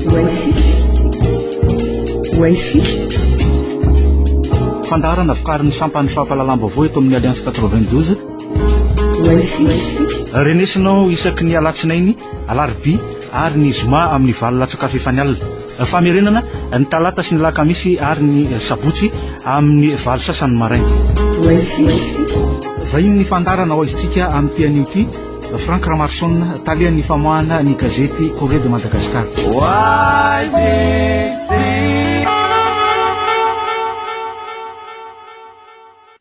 Wifi. Wifi. Fandaharana vokarin'ny sampan'ny fampahalalam-baovao eto amin'ny Alliance 92. Wifi. Renesinao isaky ny alatsinainy, alarobia ary ny zoma amin'ny valo latsakafo efa ny alina. Famerenana ny talata sy ny lakamisy ary ny sabotsy amin'ny valo sasany maraina. Wifi. Vahiny ny fandaharana ho aizintsika amin'ity anio ity Franck Ramarson, talehan'ny famoahana ny gazety Corée de Madagascar.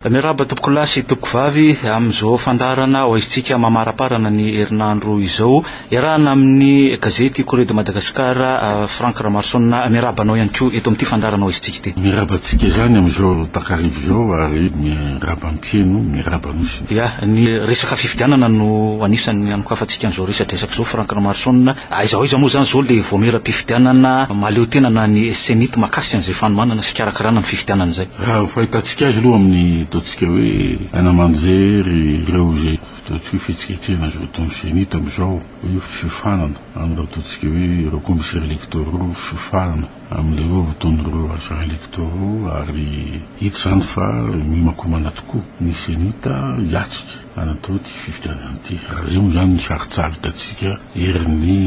Miarahaba tompokolahy sy tompokovavy amin'izao fandarana ho aisintsika mamaraparana ny herinandro izao. Iarahana amin'ny gazety Corée de Madagascar, euh, Franck Ramarson, miarahaba anao ihany koa eto amin'ity fandarana ho aisintsika ity. Miarahaba antsika izany amin'izao takarivo izao ary miarahaba mpiheno, miarahaba anao Ia, ny resaka fifidianana no anisan'ny anokafantsika an'izao resadresaka izao Franck Ramaroson a! Aiza ho aiza moa izany izao ilay vaomieram-pifidianana mahaleo tena na ny CENI-T mahakasika an'izay fanomanana sy fikarakarana ny fifidianana izay? Raha ny fahitantsika azy aloha amin'ny ataontsika hoe hanamanjery ireo izay ataontsika hoe fihetsiketsehana izay ataon'ny CENI-T amin'izao hoe fiofanana amin'ireo ataontsika hoe ireo commissaires électoraux fiofanana, amin'ireo votoan'ireo agents electoraux ary hita izany fa mihomakomana tokoa ny Cenita hiatrika an'itony ity fifidianana ity. Rareo izany ny sarintsarin hitantsika erin'ny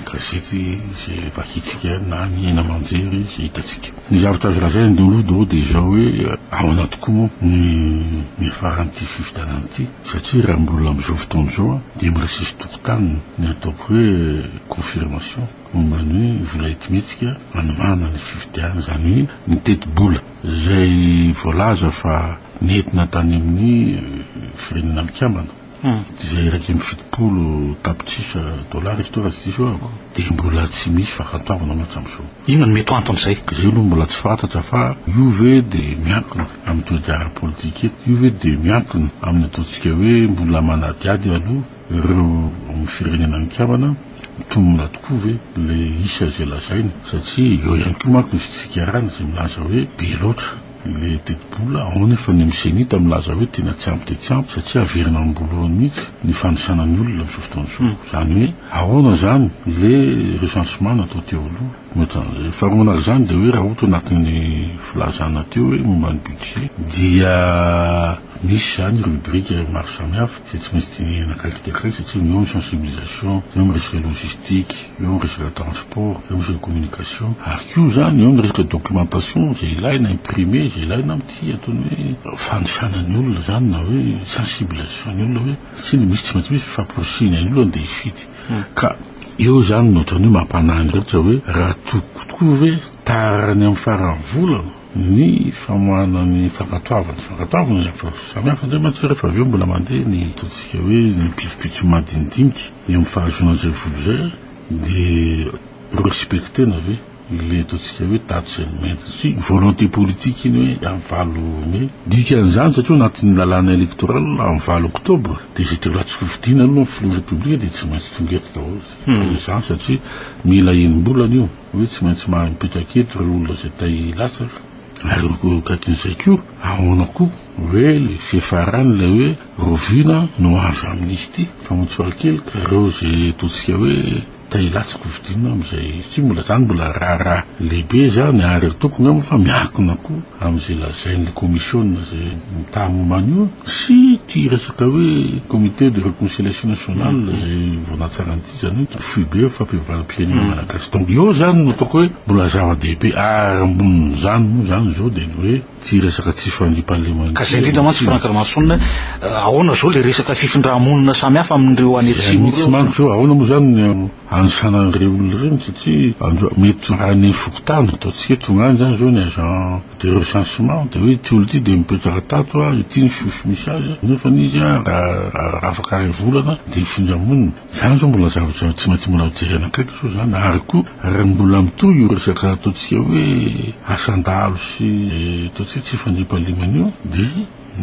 gazety izay vakintsika na ny haino aman-jery izay hitantsika. Ny zavatra azo lazaina indreo aloha daholo dia izao hoe ahoana tokoa moa ny niafaran'ity fifidianana ity satria raha mbola amin'izao fotoana izao dia mbola tsisy tokotaniny ny ataoko hoe confirmation. Momba ny hoe vola entimihetsika hanomana ny fifidianana, izany hoe ny tetibola izay voalaza fa nentina tany amin'ny Firenena Mikambana, izay iraika amby fitopolo tapitrisa dolara izy ity raha tsy diso aho, dia mbola tsy misy fahafantoavana aloha hatramin'izao. Inona no mety ho anton'izay? Izay aloha mbola tsy fantatra fa io ve dia miankina amin'ny toe-draharaha politika eto? Io ve dia miankina amin'ny ataontsika hoe mbola manadihady aloha? Ireo ao amin'ny firenena an-kavana mitombina tokoa ve ilay isa izay lazaina? Satria eo ihany koa manko ny fitsikarana izay milaza hoe be loatra ilay tetibola, ao anefa ny MCNIT milaza hoe tena tsy ampy dia tsy ampy satria averina amim-boalohany mihitsy ny fanisana ny olona amin'izao fotoana izao. Izany hoe ahoana izany ilay recensement natao teo aloha? Mihoatran'izay. Faharoa manaraka izany dia hoe raha ohatra hoe anatin'ny filazana teo hoe momba ny budget dia misy izany rubrique maro samihafa, izay tsy maintsy dinihina akaiky dia akaiky satria eo ny sensibilisation, eo ny resaka logistique, eo ny resaka transport, eo ny resaka communication ary koa izany eo ny resaka documentation izay ilaina, imprimer izay ilaina amin'ity antony hoe fanisana ny olona izany na hoe sensibilisation ny olona hoe satria ny misy tsy maintsy misy fifamporisihina ny olona dia hifidy ka eo izany no ohatran'ny hoe mampanahy ny rehetra hoe raha tokiko tokoa ve tara any amin'ny faran'ny volana ny famoahana ny fankatoavana, fankatoavana ny approche samihafa indray mantsy rehefa avy eo mbola mandeha ny ataontsika hoe ny pitsopitso madinidinika eo amin'ny fahazoana an'izay vola izay dia ho-respecter-na ve ilay ataontsika hoe daty izay nomena satria volonté politique iny hoe amin'ny valo mai, dikan'izany satria ao anatin'ny lalàna électoral amin'ny valo octobre dia izay telo latsaka fidiana aloha ny filoha repoblika dia tsy maintsy tonga eto daholo, dikan'izany satria mila enim-bolana io. hoe tsy maintsy mahay mipetraka eto ireo olona izay te hilatsaka, ary eo akaikin'izay koa, ahoana koa hoe ilay fiafarany ilay hoe rahoviana no azo amnistie, fa moa tsy farakely ka ireo izay ataontsika hoe te hilatsaka hofidiana amin'izay, satria mbola izany mbola raharaha lehibe izany, ary ataoko angamba fa miankina koa amin'izay lazain'ilay kaomisiona izay mitaha momba an'io sy ity resaka hoe comité de reconciliation nationale izay vao natsaran'ity. Izany hoe ny foibe ny fampihavanam-pirenena malagasy. Donc eo zany no ataoko hoe mbola zava-dehibe ary ambonin'izany moa zany izao dia ny hoe ity resaka tsy fandriampahalemana. Ka zay indrindra mantsy Franck Ramason eh, ahoana izao le resaka fifindrà-monina samy hafa amin'ireo any atsimo ireo? Mihitsy manko zao ahoana moa zany ny anisana ireny olona ireny satria androa mety any fokontany ataontsika hoe tonga any zany izao ny agent De recensement de hoe ity olo ity de mipetraka tato a, ity ny source misy azy a, nefany izy a raha afaka ray volana de hifindra hamonina. Zany zao mbola zavatra tsy maintsy mbola hojerena akaiky zao zany ary koa raha mbola mitohy io resaka ataontsika hoe asan-dahalo sy ataontsika hoe tsy fandriampahalemana io de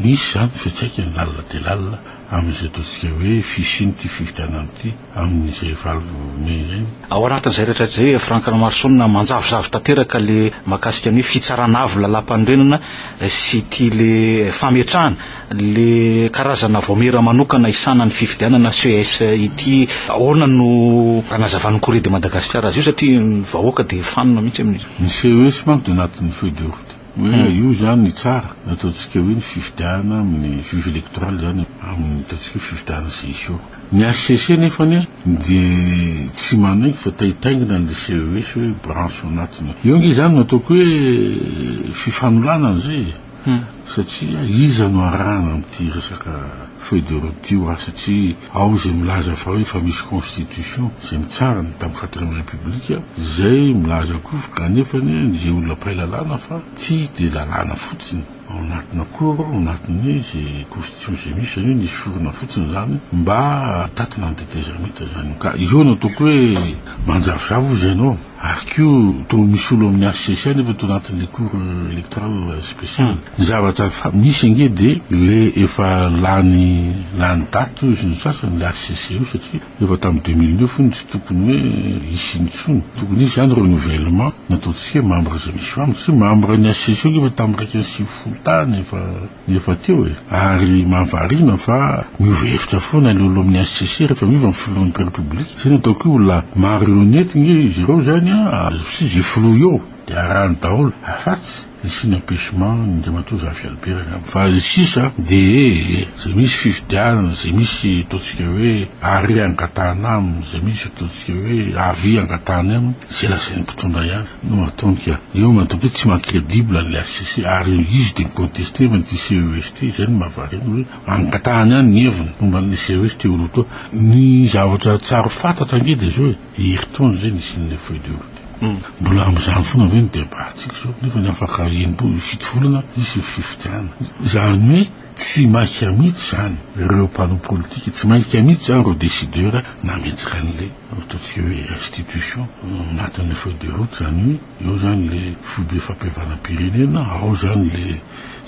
misy zany fiantraikany lalina dia lalina amin'izay ataontsika hoe fisian'ity fifidianana ity amin'izay valo mey izay. Ao anatin'izay rehetra izay Franck Ramaroson manjavozavo tanteraka ilay mahakasika ny hoe fitsarana avo ny lalàmpanorenana sy ity ilay fametrahana ilay karazana vaomiera manokana hisahana ny fifidianana, ces, ity. Ahoana no anazavan'ny Corée de Madagascar azy io satria ny vahoaka dia fanina mihitsy amin'izy io. Ny ces manko dia anatin'ny feuille de route. Hoe io izany ny tsara no ataontsika hoe ny fifidianana amin'ny juge électoral izany amin'ny ataontsika hoe fifidianana CSO. Ny HCC nefa anie dia tsy manaiky fa taitaingina an'ilay CES hoe branche ao anatiny. Eo ange izany no ataoko hoe fifanolanana izay e! Satria iza no arahana amin'ity resaka. Feuille de route io an, satria ao izay milaza fa hoe fa misy constitution izay mitsara ny tam quatrième république, izay milaza koa anefa ny izay olona mpahay lalàna fa tsy dia lalàna fotsiny ao anatina cour ao anatin'ny izay constitution izay misy izany hoe ny sorona fotsiny izany mba hitatina ny tetezamita izany ka izao no ataoko hoe manjavozavo hoy izay ianao. Ary koa toa misolo amin'ny HCC any efa tao anatin'ilay cour electoral special. Ny zavatra fa misy ange dia le efa lany lany daty hoy izy ny sasany le HCC io satria efa tamin'ny deux mille neuf hono tsy tokony hoe hisy intsony. Tokony hisy zany renouvellement, ny ataontsika hoe membre izay misy ao aminy satria membre ny HCC io ange efa tamin'ny iraika amby sivifolo tany efa. Efa teo e! Ary mahavariana fa miova hevitra foana ilay olona amin'ny HCC rehefa miova ny filohan'ny Repoblika. Izay no ataoko hoe olona marionette ange izy ireo izany an! Azotsy izay filoha eo dia arahany daholo afatsy ny signe empechement an'Andriamatoa Zafy Albert angamba fa ny sisa dia izay misy fifidianana, izay misy ataontsika hoe arrêt angatahana aminy, izay misy ataontsika hoe avis angatahany aminy. Izay lazain'ny mpitondra ihany no ataony ka eo no ataoko hoe tsy maha credible an'ilay HCC ary eo izy dia mi-contester fa ity CEST izay no mahavariana hoe angatahany ihany ny heviny momba an'ilay CEST io route io. Ny zavatra tsar fantatra ange dia izao e, herintaona izay nisian'ilay feuille de route io. Mbola amin'izany foana ve ny debat-ntsika izao nefa ny afaka enim-po- fito volana hisy ny fifidianana. Izany hoe. Tsy maika mihitsy izany ireo mpanao politika, tsy maika mihitsy izany ireo décideurs nametraka an'ilay ataontsika hoe institution anatin'ilay feuille de route izany hoe eo izany ilay foibe fampihavanam-pirenena, ao izany ilay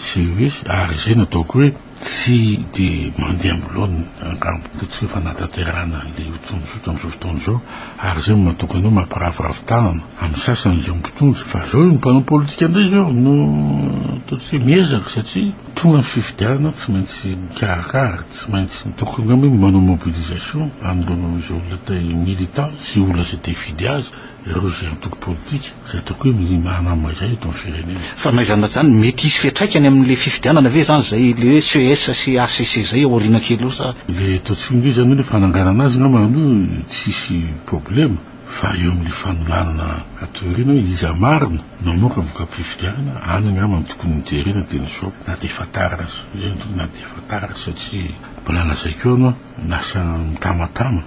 CES ary izay no ataoko hoe tsy dia mandeha amin'ny laoniny angamba, ataontsika hoe fanatanterahana an'ilay hotonon'zotra amin'izao fotoana izao ary izay no mahatonga anao mampiraviravy tanana amin'ny sasany izao mpitondra fa izao ny mpanao politika indray izao no ataontsika hoe miezaka satria Tonga ny fifidianana, tsy maintsy mikarakara, tsy maintsy ataoko angamba hoe manao mobilisation an'ireo izay olona te hi-militant sy olona izay te hifidy azy, ireo izay antoko politika izay ataoko hoe milimana amina izay eto amin'ny firenena. Fa na izany na izany, mety hisy fiantraikany amin'ilay fifidianana ve izany izay ilay hoe ces sy hcc izay ao aoriana kely eo sa? Ilay ataontsika hoe izany hoe fananganana azy angamba aloha tsisy problema. Fa eo amin'ny fanolanana aty aoriana hoe iza marina no hamoaka voka-pifidianana, any angamba no tokony hojerena dia ny shop na dia efa tara aza, na dia efa tara aza satria mbola lazaiko eo aloha ny asa mitamatama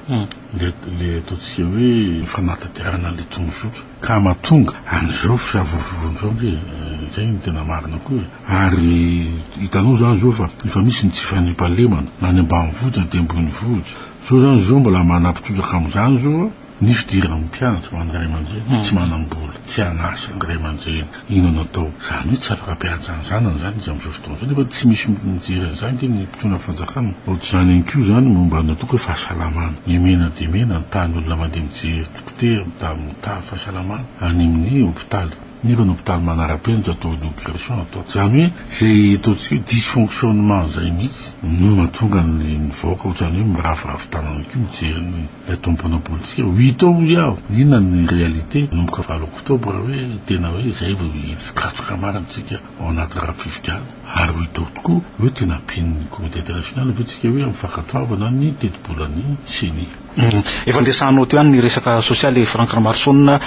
ilay ataontsika hoe fanatanterahan an'ilay tondrozotra ka mahatonga an'izao fiavorovoroana izao ange e! Izay no tena marina koa e! Ary hitanao izany izao fa efa misy ny tsy fandriampahalemana na any ambanivohitra na aty ambonivohitra, Zao zany zo mbola manampy trotraka amzany zo a, ny fidiran'ny mpianatra ho an'ny ray aman-dreny tsy manam-bola, tsy an'asa ny ray aman-dreny, inona no atao? Zany hoe tsy afaka mpianatra ny zanany zany izy amzao fotoana zao nefa tsy misy mijery an'izany ange ny mpitronan'ny fanjakana. Ohatr'izany ihany koa zany momba ny atao hoe fahasalamana, mimena dia mena ny tahan'ny olona mandeha mijery dokotera, mitady fahasalamana any amin'ny hopitaly. Nefa ny hopitaly manara-penitra atao inauguration atao. Izany hoe izay ataontsika hoe dysfonctionnement izay mihitsy no mahatonga ny vahoaka ohatran'ny hoe miraviravy tanana koa mijery ny ilay tomponao politika. Huit ans hoy aho, inona ny réalité manomboka valo octobre hoe tena hoe izay vao hisy katroka marina tsika ao anaty rafi-pifidianana? Ary huit ans tokoa hoe tena ampian'ny communauté internationale ve tsika hoe amin'ny fankatoavana ny tetibolan'ny ceni? Humm. Efa niresahanao teo ihany ny resaka sosialy Franck Ramaroson a,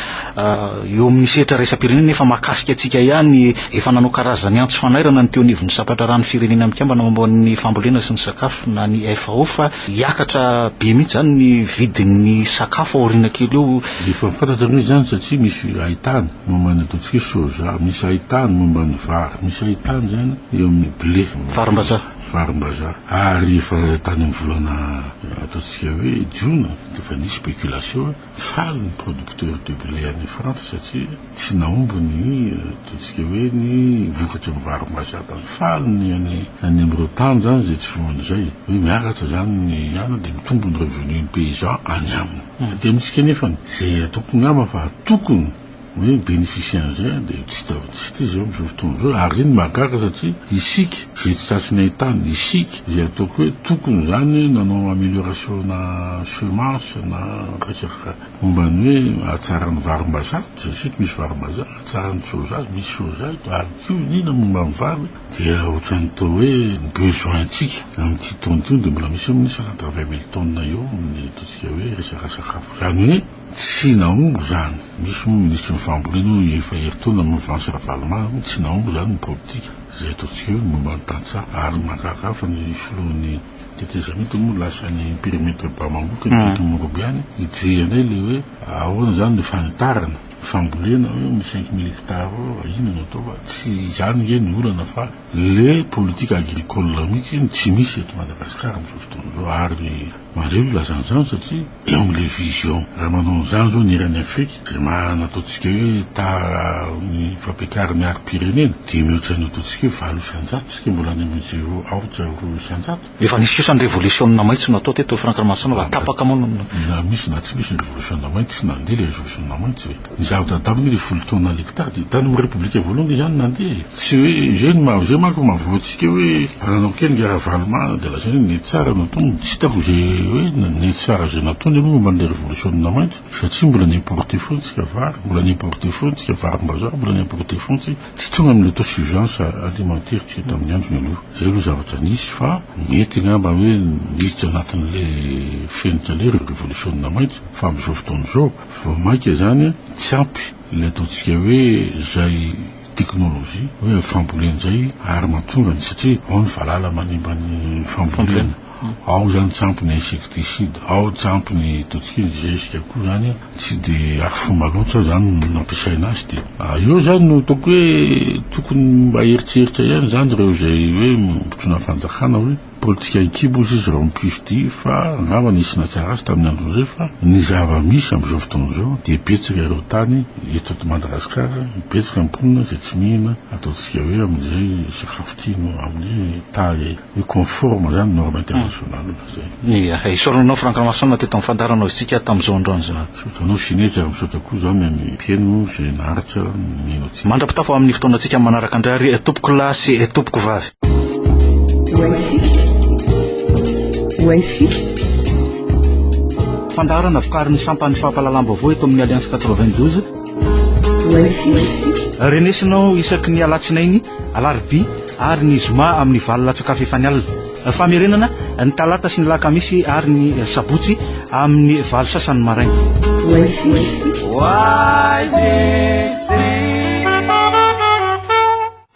eo amin'ny sehatra iraisam-pirenena nefa mahakasika antsika ihany, efa nanao karazany antso fanairana ny teo anivon'ny sampandraharahan'ny firenena mikambana momba ny fambolena sy ny sakafo na ny FAO fa hiakatra be mihitsy izany ny vidin'ny sakafo aoriana kely eo. Efa fantatra aloha izany satria misy haitany momba ny ataontsika hoe soja, misy haitany momba ny vary, misy haitany izany eo amin'ny blé. Varimbazaha. varimbazaha ary efa tany amin'ny volana ataontsika hoe jona dia efa nisy spéculation hoe faly ny producteurs de blé any frantsa satria tsy nahomby ny ataontsika hoe ny vokatry ny varimbazaha tany faly ny any any amin'ireo tany zany izay tsy voany izay hoe miakatra zany ny any dia mitombo ny revenu ny paysan any aminy dia amintsika nefany izay ataoko ngamba fa tokony hoe mi-beneficier an'izay an, dia tsy hita tsy hita izy eo amin'izao fotoana izao, ary izay no mahagaga satria isika izay tsy tratry ny hain-tany, isika izay ataoko hoe tokony izany nanao amélioration-na semence na resaka momba ny hoe hahatsara ny varimbazaha, tsy tsy misy varimbazaha, hahatsara ny soja, misy soja eto, ary koa ny inona momba ny vary, dia ohatran'ny toa hoe ny besoin-tsika amin'ity taona ity dia mbola misy eo amin'ny isaka quatre-vingt mille tonnes eo amin'ny ataontsika hoe resaka sakafo, izany hoe. Tsy nahomby izany. Misy moa ny minisitry ny fambolena hono efa herintaona ny movansy Ravalomanana hoe tsy nahomby izany ny politika. Izay ataontsika eo ny momba ny tantsaha. Ary ny mahagaga fa ny filohan'ny tetezamita moa lasa any perimetre Bamamboka ny Diky Morobe any hijery indray ilay hoe ahoana izany ilay fanitarana ny fambolena hoe ny cinq mille hectares inona no atao fa tsy izany ange ny olana fa Le politique agricole mihitsy no tsy misy eto Madagascar amin'izao fotoana izao ary mandray olona zany zany satria eo amin'ilay vision raha manao an'izany izao ny eran'ny Afrique izay maha nataontsika hoe tara ny fampiakarana arim-pirenena dimy eo tsy hainy ataontsika hoe valo isan-jato isika mbola any amin'ny zero aotra roa isan-jato. Efa nisy kosa ny revolisiona maitso natao teto Franck Ramarosaona fa tapaka moa no. Na misy na tsy misy ny revolisiona maitso tsy nandeha ilay revolisiona maitso e. Ny zava-tantara anie ilay folo taona ilay mpitady tany amin'ny repoblika voalohany dia izany nandeha e. Tsy hoe izay no maha izay manko no maha voantsika hoe ananao kely nga Ravalomanana dia lazaina hoe ny tsara no atao. Tsy hitako izay hoe ny tsara izay nataony aloha momba an'ilay revolisiona maitso satria mbola ni-importer foana isika vary, mbola ni-importer foana isika varimbazaha, mbola ni-importer foana isika. Tsy tonga amin'ny autosuffisance alimentaire isika tamin'ny androny aloha. Izay aloha zavatra nisy fa mety angamba hoe niditra anatin'ilay fenitra ilay ireo revolisiona maitso fa amin'izao fotoana izao vao mainka izany tsy ampy ilay ataontsika hoe izay teknolojia hoe fambolena izay ary mahatonga ny satria ao ny valala manimba ny fambolena. Ao zany tsampy ny insecticide, ao tsampy ny toxique, ny zezika koa zany tsy de arifomba loatra zany ny nampiasaina azy de eo zany no ataoko hoe tokony mba heritreritra ihany zany reo zay hoe mpitondra fanjakana hoe politika an-kibo ozy izy reo ny PUFD fa angamba nisy nahatsara azy tamin'ny androny rey fa ny zava-misy amizao fotoana zao de betsaka ireo tany eto ato Madagascar betsaka ny mponina zay tsy mihina ataontsika hoe amin'izay sakafo tiany amin'ny taille Ho conforme zany norme international hmm. zay. Ia, eh, isaorana anao Franck Ramason teto amin'ny fandaharanao isika tamin'izao androany izao. Misaotra anao Sineky ary misaotra koa izao ny an'ny mpieno izay naharitra mihaino antsika. Mandra-pitafo amin'ny fotoanantsika manaraka indray ary eh, tompoko lahy sy eh, tompoko vavy. Waisika. Fandaharana vokarin'ny sampan'ny fampahalalam-baovao eto amin'ny Alliance 92. Waisika. Renesinao isaky ny alatsinainy Alarobia ary ny Zoma amin'ny valo latsak'afo efa ny alina. Famerenana ny Talata sy ny Lakamisy ary ny Sabotsy amin'ny valo sasany maraina. Oasis. Oasis.